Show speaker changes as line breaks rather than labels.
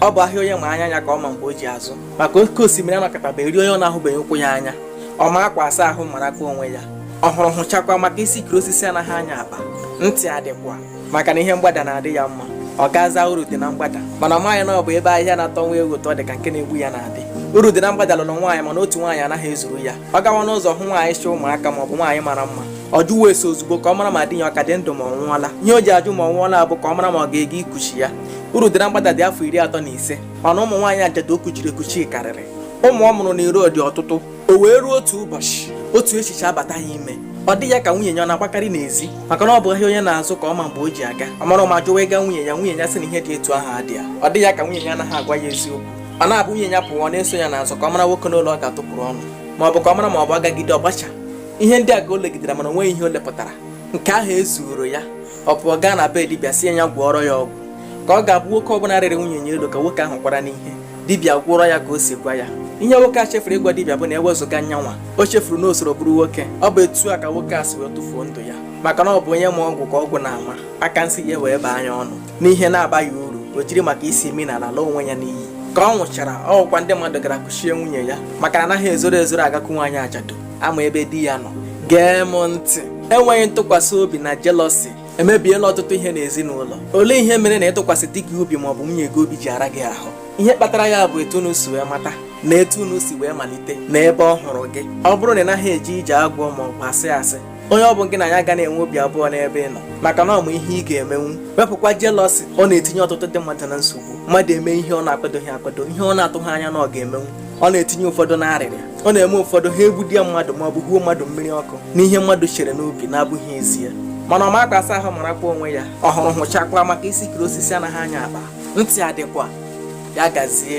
ọ bụ ahịa onye ma anya ya ka ọ ma mgbe o ji azụ maka oke osimiri anọkataba eri onye ọ na-ahụbeghị ụkwụ ya anya ọ ma akwa asa ahụ marakwa onwe ya ọ hụrụ hụchakwa maka isi kiri osisi anaghị anya akpa ntị adịkwa maka na ihe mgbada na-adị ya mma ọ gaza uru dị na mgbada mana ọ maghị na ọ bụ ebe ahịhịa na-atọ nwa ewu ụtọ dị ka nke na-egbu ya na-adị uru dị na mgbada lụrụ nwaanyị mana otu nwaanyị anaghị ezuru ya ọ gawa n'ụzọ hụ nwaanyị chị ụmụaka ma ọ bụ nwaanyị mara mma ọ jụwa ese ozugbo ka ọ mara ma di ya ọ ka dị ndụ ma ọ nwụọla ihe o ji ajụ ma ọ nwụọla bụ ka ọ mara ma ọ ga-eje ikuchi ya uru dị na mgbada dị afọ iri atọ na ise mana ụmụ nwaanyị ajadu o kuchiri ekuchi karịrị ụmụ ọ mụrụ na iro dị ọtụtụ o wee ruo otu ụbọchị otu echiche abata ya ime ọ dị ya ka nwunye ya ọ na-agbakarị n'ezi maka na ọ bụ ahịa onye na-azụ ka ọ ma mgbe o ji aga ọ mara ụma jụwa ịga nwunye ya nwunye ya sị na ihe dị etu ahụ adịghị ya ọ dị ya ka nwunye ya anaghị agwa ya eziokwu ọ na-abụ nwunye ya pụwa ọ na-eso ya n'azụ ka ọ mara nwoke n'ụlọ ọ ga-atụpụrụ ọnụ ma ọ bụ ka ọ mara ma ọ bụ agagide ọ bụcha ihe ndị a ka o legidere mana o nweghị ihe o lepụtara nke ahụ ezuoro ya ọ pụọ gaa na be dibịa sị ya gwọọrọ ya ọgwụ ka ọ ga-abụ nwoke ọbụla rịrị nwunye nya elu ka nwoke ahụ kwara n'ihe dibịa gwọọrọ ya ka o si gwa ya ihe nwoke a chefuru ịgwa dibịa bụ na ewezụga nyanwa o chefuru na o soro bụrụ nwoke ọ bụ etu a ka nwoke a si wee tụfuo ndụ ya maka na ọ bụ onye ma ọgwụ ka ọgwụ na-ama aka nsị ya wee baa nya ọnụ n'ihe na-abaghị uru o jiri maka isi imi n'ala laa onwe ya n'iyi ka ọ nwụchara ọ bụkwa ndị mmadụ gara kuchie nwunye ya maka na anaghị ezoro ezoro agakwu nwaanyị ajadu a ma ebe di ya nọ gee m ntị enweghị ntụkwasị obi na jelọsi emebiela ọtụtụ ihe n'ezinụlọ olee ihe mere na ịtụkwasị di gị obi maọbụ nwunye gị obi ji ara gị ahụ ihe kpatara ya bụ etu unu si wee mata na etu unu si wee malite na ebe ọ hụrụ gị ọ bụrụ na ị naghị eje ije agwọ maọbụ asị asị onye ọ bụ gị na ya ga na-enwe obi abụọ n'ebe ị nọ maka na ọ ma ihe ị ga-emenwu wepụkwa jelọsi ọ na-etinye ọtụtụ ndị mmadụ na nsogbu mmadụ eme ihe ọ na-akwadoghị akwado ihe ọ na-atụghị anya na ọ ga-emenwu ọ na-etinye ụfọdụ n'arịrị ọ na-eme ụfọdụ ha egbuodị mmadụ ma ọ bụ huo mmadụ mmiri ọkụ n'ihe mmadụ chere n'obi na-abụghị ezie mana ọma akwa asa ahụ marakwa onwe ya ọ hụrụ hụchakwa maka isi kiri osisi anaghị anya akpa ntị adịkwa ya gazie